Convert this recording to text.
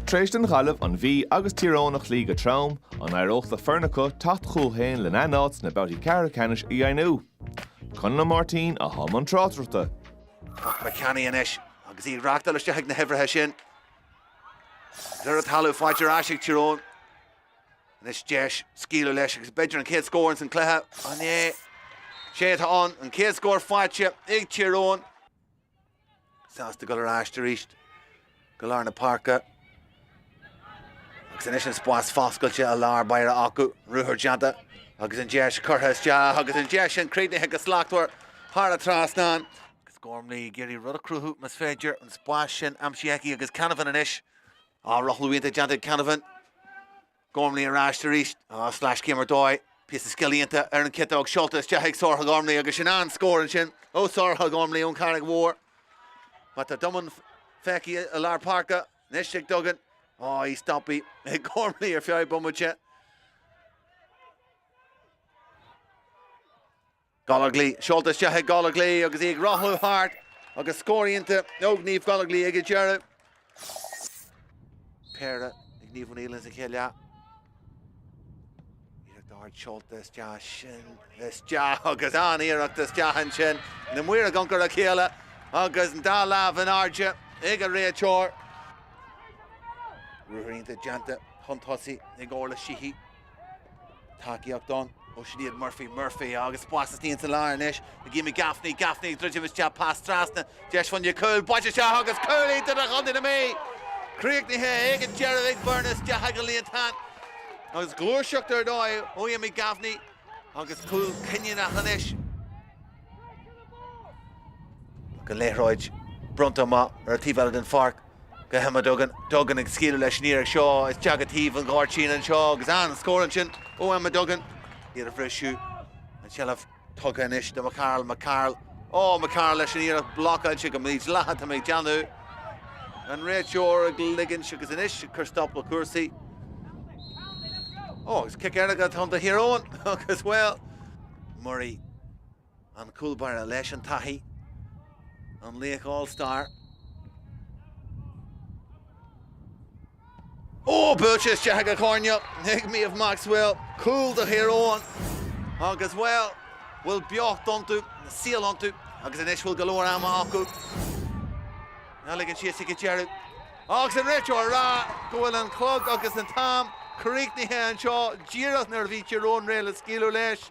Tar éis don Ghaillimh an Mhí agus Tír Eoghain a chloí go trom, an éireodh le foireann acu teacht chucu féin lena n-áit sna babhtaí ceathrú ceannais a dheimhniú? Conall Ó Máirtín, i mbun tráchtaireachta. Ach ba cheannaí anois agus iad reachtáil isteach ag na huimhrithe sin. Nuair a talamh fáilte ar ais ag Tír Eoghain. Anois deis scaoileadh leis agus b'fhéidir an chéad scór ins an cluiche. An é, sé atá ann, an chéad scór faighte ag Tír Eoghain. sásta dul ar ais arís go lár na páirce agus anois an spás foscailte i lár páirce acu, ruathar déanta agus an deis curtha isteach agus an deis sin críochnaithe go slachtmhar thar an trasnán. Agus Gormley ag iarraidh rud a chruthú más féidir, an spás sin aimsithe aici agus Canavan anois ó, rothlú iontach déanta ag Canavan. Gormley ar ais arís. Á, sleaschéim ar dóigh. Píosa scile iontach ar an chiotóg seolta isteach ag Sorcha Gormley agus sin an scór ansin ó Shorcha Gormley ón Charraig Mhór. Má tá domhan feicthe i lár páirce, anois ag Duggan. Á, í stoptha ag Gormley ar feadh bomaite. Gallagly, seolta isteach ag Gallagly agus í ag rothlú thart agus scór iontach ó Niamh Gallagly ag an deireadh. Péire ag Niamh O'Neill ins an chéad leath. Iarracht ard seolta isteach sin isteach agus an iarracht istigh ansin na maoir ag amharc ar a chéile agus an dá lámh in airde ag an réiteoir. Ruathar iontach déanta chun tosaigh ag Orla Sheehy. tacaíocht ann ó Sinead Murphy Murphy agus pas isteach sa lár anois ag Amy Gaffney Gaffney ag druidim isteach pas trasna deis, bhfuil cúl, buailte isteach agus cúl iontach do Chontae na Mí críochnaithe ag an deireadh ag Beirn isteach sa líontán agus gluaiseacht ar dóigh ó Amy Gaffney agus cúl cinniúnach anois an liathróid bronnta amach ar an taobh eile den pháirc. Go hEmma Duggan, Duggan ag scaoileadh leis an iarracht seo isteach ar thaobh an ghairdín anseo agus an scór ansin ó Emma Duggan iarracht bhreá. An seilbh tugtha anois do McCarl, McCarl, oh McCarl leis an iarracht blocáilte go mídhleathach tá mé ag déanamh. An réiteoir ag ligint agus anois ag cur stop le cúrsaí. Ó, agus cic éirice atá ann do Thír Eoghain agus, bhuel, Murray. An cúlbaire leis an taithí, an laoch All Star. Ó! Buailte isteach ag an gcoirnéal ag Méabh Maxwell. Cúl do Thír Eoghain agus, bhuel, bhfuil beocht iontu, saol iontu agus anois bhfuil go leor ama acu. Ná ligeann siad síos go deireadh. Agus an réiteoir ag rá go bhfuil an clog agus an t-am críochnaithe anseo díreach nuair a bhí Tír Eoghain réidh le scaoileadh leis.